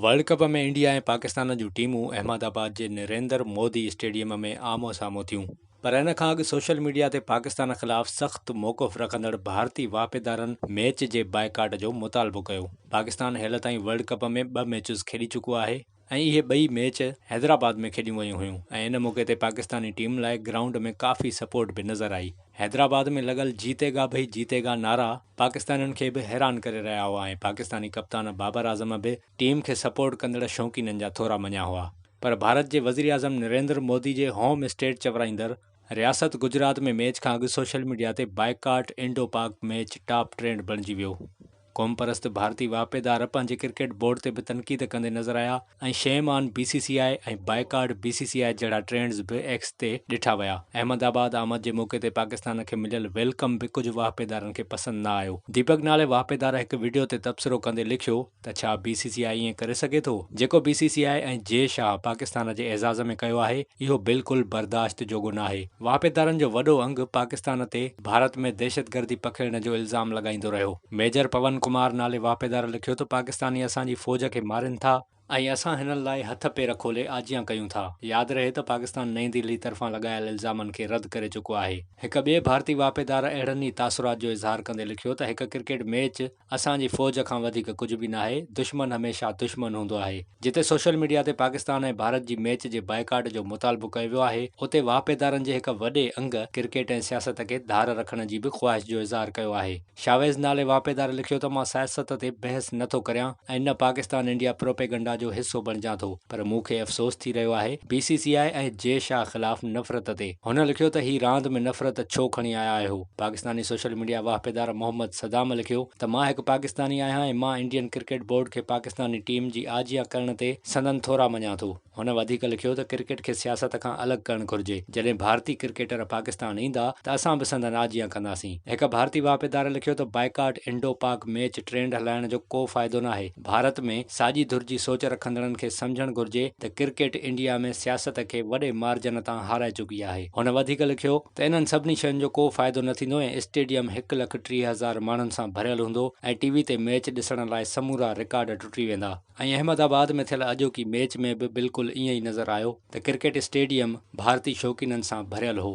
World cup ۾ India ۽ Pakistan جون ٽيمون Ahmedabad جي نريندر مودي اسٽيڊيم ۾ آمهون سامهون ٿيون پر ان کان اڳ سوشل ميڊيا تي پاڪستان خلاف سخت موقف رکندڙ ڀارتي واهپيدارن ميچ جي بائيڪاٽ جو مطالبو ڪيو. پاڪستان هيل تائين ورلڊ ڪپ ۾ ٻه ميچز کيڏي چڪو آهي ۽ اهي ٻئي ميچ حيدرآباد ۾ کيڏيون ويون هيون ۽ ان موقعي تي پاڪستاني ٽيم لاء گرائونڊ ۾ ڪافي سپورٽ به نظر آئي. حيدرآباد ۾ لڳل جيتي گا ڀئي جيتي گا نعرا پاڪستانين کي به حيران ڪري رهيا هئا ۽ پاڪستاني ڪپتان بابر اعظم به ٽيم کي سپورٽ ڪندڙ شوقينن جا ٿورا مڃيا هئا پر ڀارت جي وزيراعظم نريندر مودي جي هوم اسٽيٽ چورائيندڙ رياست گجرات ۾ ميچ کان اڳ سوشل ميڊيا تي boycott Indo Pak match top trend بڻجي ويو. قومپرست ڀارتي واهپيدار پنهنجي ڪرڪيٽ بورڊ تي به تنقيد ڪندي نظر آيا ۽ shame on B C C I ۽ boycott B C C I جهڙا ٽرينڊز به ايڪس تي ڏٺا ويا. احمد آباد آمد جي موقعي تي پاڪستان کي مليل ويلڪم به ڪجهه واهپيدارن کي پسند نه آيو. ديپڪ نالي واهپيدار هڪ وڊيو تي تبصرو ڪندي لکيو ته ڇا بي سي سي آء ائين ڪري سگهي ٿو؟ جيڪو بي سي سي آء ۽ جي شاهه پاڪستان جي اعزاز ۾ ڪيو آهي اهو بلڪل برداشت جوڳو ناهي. واهپيدارن جو وڏو انگ پاڪستان تي ڀارت ۾ دهشتگردي پکيڙڻ جو الزام لڳائيندو رهيو. ميجر پون ڪمار نالي واهپيدار لکيو ته پاڪستاني اسان جي فوج کي مارين ٿا، ۽ اسان هنن لاء هٿ پير کولي آجيان ڪيون ٿا ياد رهي ته پاڪستان نئين دهلي طرفان لڳايل الزامن کي رد ڪري چڪو آهي هڪ ٻئي ڀارتي واهپيدار اهڙن ئي تاثرات جو اظهار ڪندي لکيو ته هڪ ڪرڪيٽ ميچ اسان جي فوج کان وڌيڪ ڪجهه به ناهي، دشمن هميشه دشمن هوندو آهي، جتي سوشل ميڊيا تي پاڪستان ۽ ڀارت جي ميچ جي بائيڪاٽ جو مطالبو ڪيو ويو آهي، اتي واهپيدارن جي هڪ وڏي انگ ڪرڪيٽ ۽ سياست کي ڌار رکڻ جي به خواهش جو اظهار ڪيو آهي. شاويز نالي واهپيدار لکيو ته مان سياست تي بحث نه ٿو ڪريان ۽ نه پاڪستان انڊيا پروپيگنڊا جو حصو بڻجان ٿو. پر مون کي افسوس ٿي رهيو آهي بي سي سي آء ۽ جي شاهه خلاف نفرت تي. هن لکيو ته هي راند ۾ نفرت ڇو کڻي آيا آهيو؟ پاڪستاني سوشل ميڊيا واهپيدار محمد صدام لکيو ته مان هڪ پاڪستاني آهيان ۽ مان انڊين ڪرڪيٽ بورڊ کي پاڪستاني ٽيم جي آجيان ڪرڻ تي سندن ٿورا مڃان ٿو. هن وڌيڪ لکيو ته ڪرڪيٽ کي سياست کان الڳ ڪرڻ گهرجي، جڏهن ڀارتي ڪرڪيٽر پاڪستان ايندا ته اسان به سندن آجيان ڪنداسين. هڪ ڀارتي واهپيدار لکيو ته boycott Indo Pak match trend هلائڻ جو ڪو فائدو ناهي. ڀارت ۾ ساڄي ڌر جي سوچ رکندڙن کي سمجهڻ گهرجي ته ڪرڪيٽ انڊيا ۾ سياست کي وڏي مارجن تان هارائي چڪي آهي. هن وڌيڪ لکيو ته انهن سڀني شين جو ڪو فائدو نه ٿيندو ۽ اسٽيڊيم هڪ لک ٽيهه هزار ماڻهن سان ڀريل هوندو ۽ ٽي وي تي ميچ ڏسڻ لاء سمورا رڪارڊ ٽٽي ويندا ۽ احمد آباد ۾ ٿيل اڄوڪي ميچ ۾ به بلڪل ائين ئي نظر آيو ته ڪرڪيٽ اسٽيڊيم ڀارتي شوقينن سان ڀريل هو.